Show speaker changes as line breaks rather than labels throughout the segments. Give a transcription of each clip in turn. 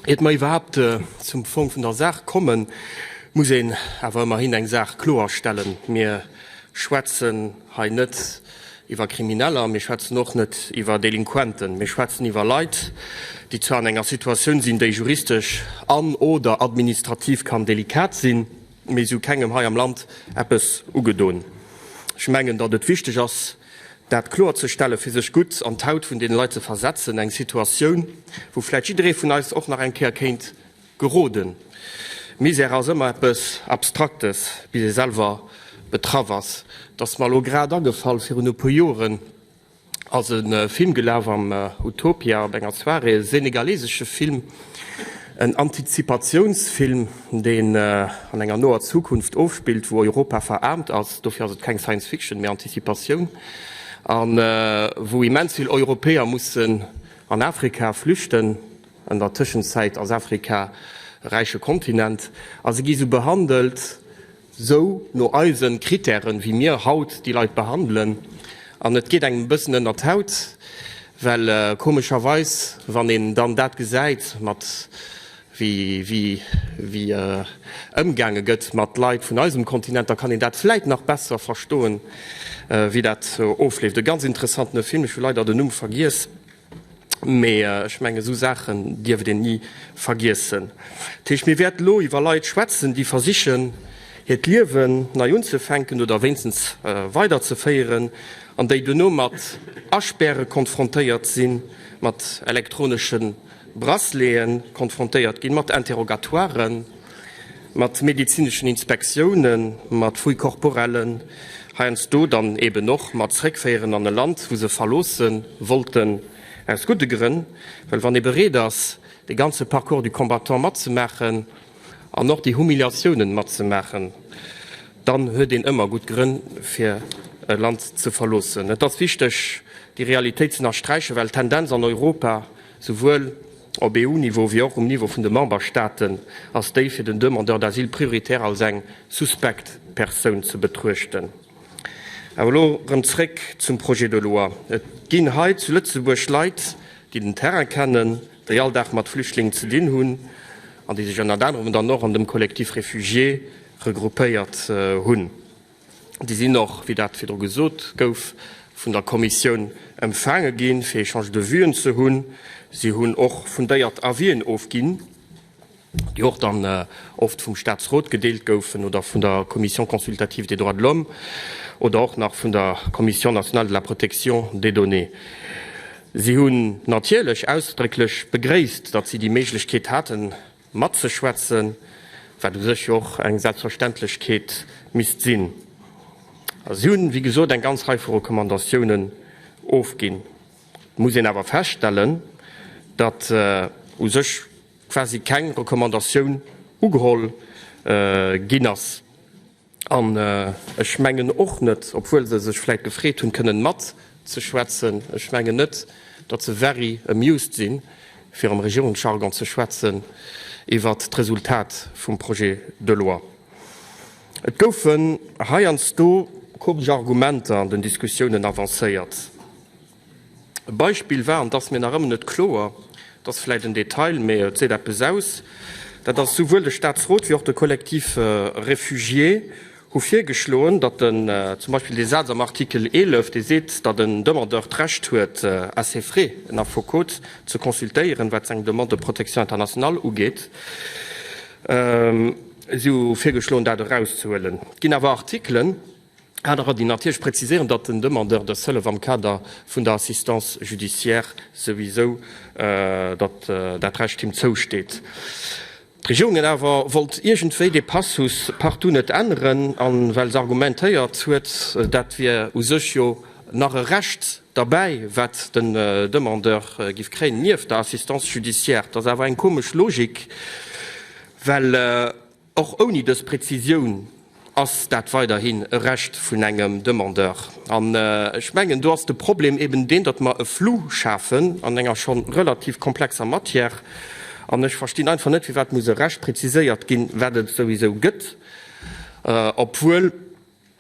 Iert mer iwwerhaapt zum Fong vun der Saach kommen, muss een awer ëmmerhin eng Saach kloer stellen, Mir schwätzen hei net iwwer Krimineller, mir schwätzen och net iwwer Delinquenten. Mir schwätzen iwwer Leit, déi zwar an enger Situatioun sinn, déi juristesch an, oder administrativ kann delikat sinn, mee si hu kengem hei am Land eppes ugedoen. Ech mengen, datt et wichteg ass, dat kloerzestellen, fir sech gutt an d'Haut vun deene Leit ze versetzen, eng Situatioun, wou vläicht jidderee vun eis och nach eng Kéier kéint geroden. Misär ass ëmmer eppes Abstraktes, bis ee selwer betraff ass. Et ass mer elo grad agefall, virun e puer Joren ass e Film gelaf am Utopia op enger Soirée, e senegalesesche Film, En Antizipatiounsfilm, deen an enger noer Zukunft ofspillt, wou Europa veraarmt ass, dofir ass et keng Science Fiction, mee Antizipatioun, a wou immens vill Europäer mussen an Afrika flüchten, an der Tëschenzäit ass Afrika e räiche Kontinent, a se gi sou behandelt, esou no eisen Critèren wéi mir haut déi Leit behandelen an et geet engem e bëssen ënnert d'Haut, well komescherweis wann een dann dat gesäit mat wéi wéi ëmgaange gëtt mat Leit vun eisem Kontinent, da kann een dat vläit nach besser verstoen wéi dat ofleeft. E ganz interessantene Film, ech hu leider den Numm vergiess. Mee ech mengen, esou Saachen dierf et een ni vergiessen. Dat heescht, mir wäerten elo iwwer Leit schwätzen, déi versichen, hiert Liewen nei unzefänken oder wéinstens weiderzeféieren, an déi duerno mat Aspäre konfrontéiert sinn, mat elektronesche Braceleten konfrontéiert ginn, mat Interrogatoiren. mat medezineschen Inspektiounen, mat Fouilles corporellen, heiansdo dann eeben och mat Zréckféieren an e Land, wou se verloosse wollten, aus gudde Grënn. Well wann ee bereet ass, de ganze Parcours du combattant matzemaachen an och déi Humiliatiounen matzemaachen, dann huet een ëmmer gutt Grënn, fir e Land ze verloossen. Et ass wichteg, déi Realitéit z'ënnersträichen, well d'Tendenz an Europa, Souwuel op EU-Niveau wéi och um Niveau vun de Memberstaaten ass déi fir den Demandeur d'asile prioritär als eng suspekt Persoun ze betruechten. Awer elo erëm zréck zum Projet de loi. Et ginn hei zu Lëtzebuerg Leit, déi den Terrain kennen, déi all Dag mat Flüchtlingen ze dinn hunn an déi sech ënnert anerem dann och an dem Collectif Réfugiés regroupéiert hunn. Déi sinn och, wéi dat virdru gesot gouf, vun der Kommissioun empfaange ginn, fir Échange de vues'en ze hunn. Si hunn och fundéiert Avis'en ofginn, déi och dann oft vum Statsrot gedeelt goufen oder vun der Commission consultative des droits de l'homme oder och nach vun der Commission nationale de la protection des données. Si hunn natierlech ausdrécklech begréisst, datt si déi Méiglechkeet haten, matzeschwätzen, wat u sech jo och eng Selbstverständlechkeet misst sinn. A si hunn, wéi gesot, eng ganz Rei vu Recommandatiounen ofginn. Et muss een awer feststellen, datt u sech quasi keng Recommandatioun ugeholl ginn ass. An ech mengen och net, obwuel se sech vläit gefreet hunn, kënnen matzeschwätzen, ech mengen net, datt se very amused sinn, fir am Regierungsjargon ze schwätzen, iwwert d'Resultat vum Projet de loi. Et goufen heiansdo komesch Argumenter an den Diskussiounen avancéiert. E Beispill war, an et ass mir nach ëmmer net kloer, et ass vläicht en Detail, mä et seet eppes aus, dat ass, souwuel de Statsrot wéi och de Collectif Réfugié hu virgeschloen, datt en, zum Beispill dee Saz am Artikel 11, dee seet, datt en Demandeur d'Recht huet, à ses frais en Affekot ze consultéieren, wat seng Demande de protection internationale ugeet. Si hu virgeschloen, dat erauszehuelen. Et ginn awer Artikelen. Anerer, déi natierlech präziséieren, datt den Demandeur dës Hëllef am Kader vun der Assistance judiciaire souwisou, datt dat Recht him zousteet. D'Regierung huet awer wollt iergendwéi dee Passus partout net änneren, a well se argumentéiert huet, dat wier u sech jo nach e Recht derbäi, wat den Demandeur giff kréien nieft der Assistance judiciaire. Dat ass awer eng komesch Logik, well. Och ouni dës Prezisioun ass dat weiderhin e Recht vun engem Demandeur. An ech mengen, do ass de Problem eben deen, datt mer e Flou schafen an enger scho relativ komplexer Matière. An ech verstinn einfach net, firwat muss e Recht preziséiert ginn, wat et souwisou gëtt, obwuel,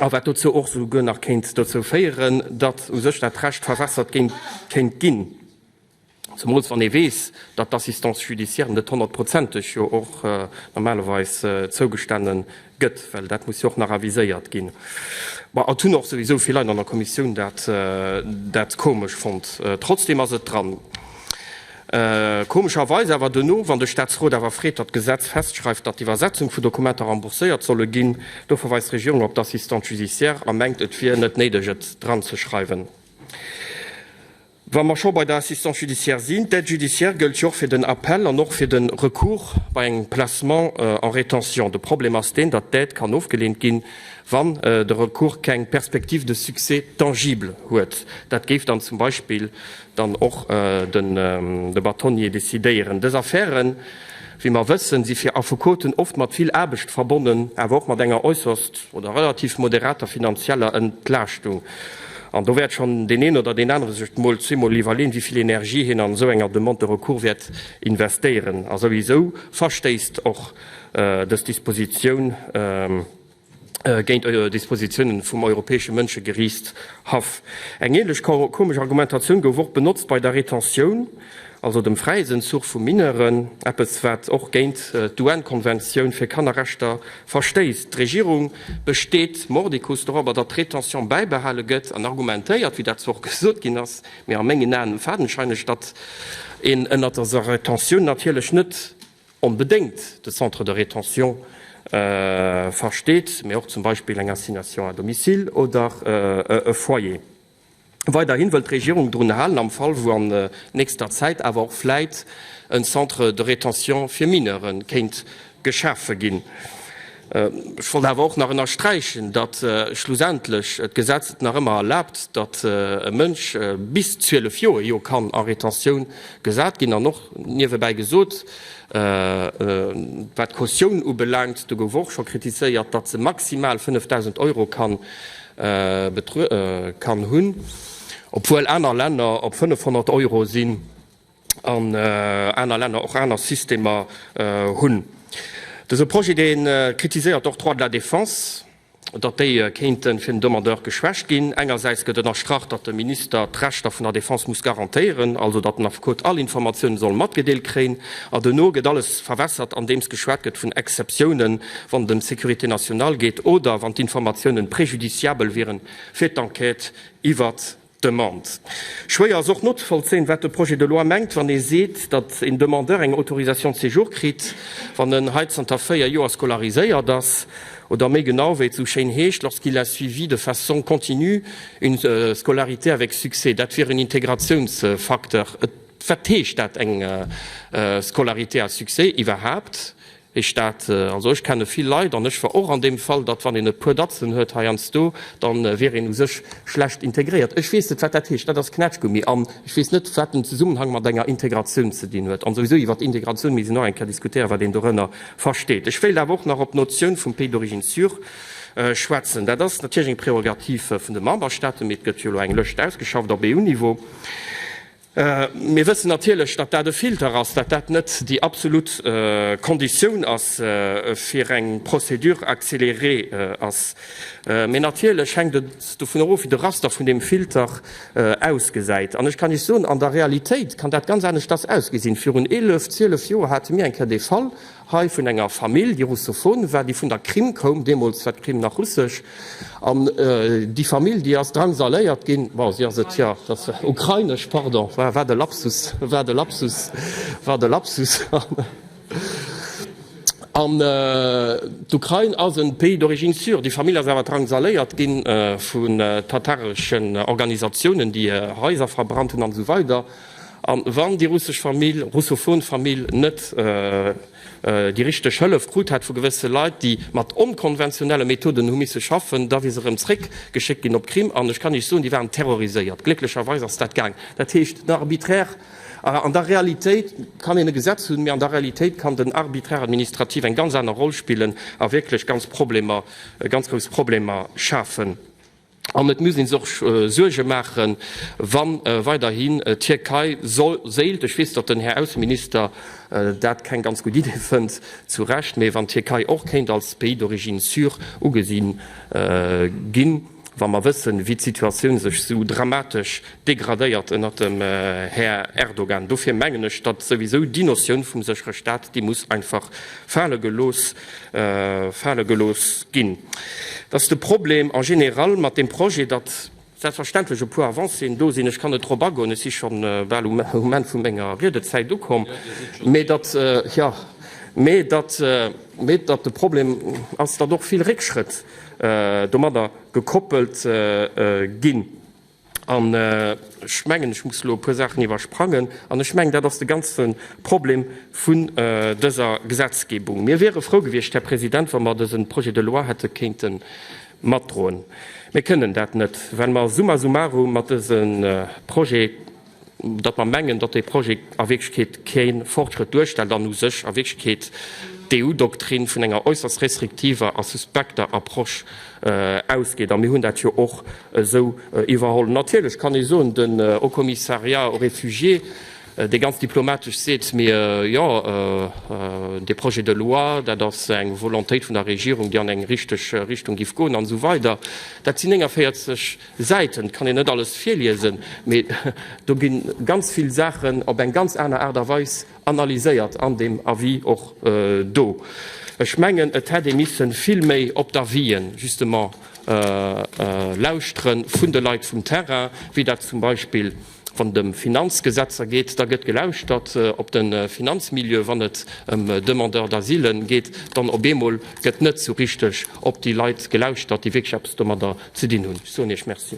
a wat dozou och souguer nach kéint dozou féieren, datt u sech dat Recht verwässert kéint ginn. Zemools wann ee weess, datt d'Assistance judiciaire net honnertprozenteg jo och normalerweis zougestane gëtt, well dat muss jo och nach aviséiert ginn. Bon, et hunn och souwisou vill Leit an der Kommissioun dat komesch fonnt. Trotzdem ass et dran. Komescherweis awer duerno, wann de Statsrot awer freet, datt d'Gesetz festschreift, datt d'Iwwersetzung vu Dokumenter rembourséiert solle ginn, do verweist d'Regierung op d'Assistante judiciaire a mengt, et wier net néideg, et dranzeschreiwen. Wa mer scho bei der Assistance judiciaire sinn, D'Aide judiciaire gëllt jo och fir den Appel an och fir de Recours bei engem Placement en rétention. De Problem ass deen, datt d'Aide kann ofgeleent ginn, wann de Recours keng Perspective de succès tangible huet. Dat géif dann zum Beispill dann och de Bâtonnier decidéieren. Dës Affären, wéi mer wëssen, si fir Affekoten oft mat vill Aarbecht verbonnen, awer och mat enger äusserst oder relativ moderater finanzieller Entlaaschtung. An do wäert schonn deen een oder deen anere sech mol zweemol iwwerleeën, wéi vill Energie hien an esou enger Demande de recours wäert investéieren. A souwisou verstéisst och dës Dispositioun géint Dispositiounen vum Europäesche Mënschegeriichtshaff. Eng änlech komesch Argumentatioun gouf och benotzt bei der Retentioun. also dem Fräisenzuch vu Mineuren, eppes wat och géint d'UN-Konventioun fir Kannerrechter verstéisst. D'Regierung besteet mordicus dorobber, datt d'Rétention bäibehale gëtt an argumentéiert, wéi dat zwar och gesot ginn ass, mee a mengen Aen fadenscheineg, datt een ënnert deser Rétention natierlech net onbedéngt de Centre de rétention versteet, mee och zum Beispill eng Assignation à domicile oder e Foyer. Weiderhin wëllt d'Regierung drun halen, am Fall wou an nächster Zäit awer och vläit en Centre de rétention fir Mineure kéint geschafe ginn. Ech wollt awer och nach ënnersträichen, datt schlussendlech d'Gesetz et nach ëmmer erlaabt, datt e Mënsch bis 12 Joer jo kann a Retentioun gesat ginn. An och niewebäi gesot, wat d'Kautioun ubelaangt, do gouf och scho kritiséiert, datt se maximal 5.000 Euro kann Betruede kann hunn, obwuel aner Länner op 500 Euro sinn an aner Länner och aner Systemer hunn. Dëse Projet, dee kritiséiert och d'Droits de la défense, datt déi kéinte fir den Demandeur geschwächt ginn. Engersäits gëtt ënnerstrach, datt de Minister d'Rechter vun der Défense muss garantéieren, also datt den Affekot all Informatiounen soll matgedeelt kréien, a duerno gëtt alles verwässert andeems geschwat gëtt vun Exceptiounen, wann et ëm d'Sécurité nationale geet oder wann d'Informatiounen préjudiciabel wieren fir d'Enquête iwwert d'Demande. Schwéier ass och nozevollzéien, wat de Projet de loi mengt, wann e seet, datt een Demandeur eng Autorisation de séjour kritt, wann en hei zanter véier Joer scolariséiert ass oder, méi genau, wéi et esou schéin heescht, lorsqu'il a suivi de façon continue une scolarité avec succès. Dat wier en Integratiounsfacteur. Wat heescht dat eng Scolarité à succès iwwerhaapt? Heescht dat, also ech kenne vill Leit, an ech war och an deem Fall, datt wann een e puer Datzen huet heiansdo, da wier een u sech schlecht integréiert. Ech weess net wat dat heescht, dat ass Knätschgummi. An ech weess net wat den Zesummenhang mat enger Integratioun ze dinn huet. An souwisou iwwer Integratioun misst een och eng Kéier diskutéieren, wat een dorënner versteet. Ech wéilt awer och nach op d'Notioun vum Pays d'origine sûr schwätzen. Dat ass natierlech eng Prerogativ vun de Memberstaaten, mee et gëtt jo elo eng Lëscht ausgeschafft op EU-Niveau. Mir wëssen natierlech, datt dat e Filter ass, datt dat net déi absolut Konditioun ass fir eng Procédure accélérée ass. Mee natierlech hänkt et dovun erof, wéi de Raster vun deem Filter ausgesäit. An ech kann Iech soen, an der Realitéit kann dat ganz aneschters ausgesinn. Virun eelef, zwielef Joer hate mir eng Kéier dee Fall, Hei vun enger Famill, déi russophon war, déi vun der Krim koum, deemools war d'Krim nach russesch, an déi Famill, déi ass drangsaléiert ginn, bon, si ass et jo, dat war ukrainesch, pardon, wat e Lapsus, wat e Lapsus, wat e Lapsus, an d'Ukrain ass e Pays d'origine sûre, déi Famill ass awer drangsaléiert gi vu tatareschen Organisatiounen, déi Haiser verbrannt hunn, an esou weider. An wann déi russesch Famill, russophon Famill, net déi richteg Hëllef krut hätt vu gewësse Leit, déi mat onkonventionelle Methoden hu misse schaffen, da wier se erëm zréck geschéckt ginn op d'Krim. An ech kann Iech soen, déi waren terroriséiert. Glécklecherweis ass dat gaang. Dat heescht, den arbitraire, an der Realitéit kann een e Gesetz hunn, mee an der Realitéit kann den arbitraire administratif eng ganz aner Roll spillen a wierklech ganz Problemer, ganz grouss Problemer schafen. An et muss ee sech och Suerge maachen, wa weiderhin d'Tierkei sollt, ech weess, datt den Här Ausseminister dat keng ganz gutt Idee fënnt, zu Recht, mee wann d'Tierkei och kéint als Pays d'origine sûr ugesi ginn, wa mer wëssen, wéi d'Situatioun sech esou dramatesch degradéiert ënnert dem Här Erdogan. Dofir mengen ech, datt souwisou déi Notioun vum séchere Staat, déi muss einfach fale gelooss fale gelooss ginn, dass de Problem en général mat deem Projet, datt selbstverständlech e puer Avancéen do sinn, ech kann net drop agoen, ech si schonn bal um Enn vu menger Riedezäit ukomm, mee datt, jo, mee datt, mee datt de Problem ass, datt och vill Réckschrëtt domadder gekoppelt ginn. An ech mengen, ech muss elo e puer Saachen iwwersprangen. An ech mengen, dat ass de ganze Problem vun dëser Gesetzgebung. Mir wiere frou gewiescht, Här President, wa mer dëse Projet de loi hätte kéinte matdroen. Mir kënnen dat net, well mer summa summarum mat dësem Projet datt mer mengen, datt dee Projet a Wierklechkeet kee Fortschrëtt duerstellt an u sech a Wierklechkeet d'EU-Doktrin vun enger äusserst restriktiver a suspekter Approche ausgeet. A mir hunn dat jo och esou iwwerholl. Natierlech kann ee soen, den Haut Commissariat aux réfugiés, dee ganz diplomatesch seet, Mee jo, dee Projet de loi, dat ass eng Volontéit vun der Regierung, déi an eng richteg Richtung géif goen an esou weider. Dat sinn 49. Säiten kann een net alles virliesen, mee do ginn ganz vill Saachen op eng ganz aner Aart a Weis analyséiert an deem Avis och do. Ech mengen, et hätt ee missen vill méi op d'Avisen justement lauschteren vun de Leit vum Terrain, wéi dat zum Beispill Wann et ëm Finanzgesetzer geet, da gëtt gelauschtert op de Finanzmilieu, wann et ëm Demandeurs d'asile geet, dann op eemol gëtt net esou richteg op déi Leit gelauschtert, déi wierklech eppes domadder ze dinn hunn. Ech soen Iech Merci.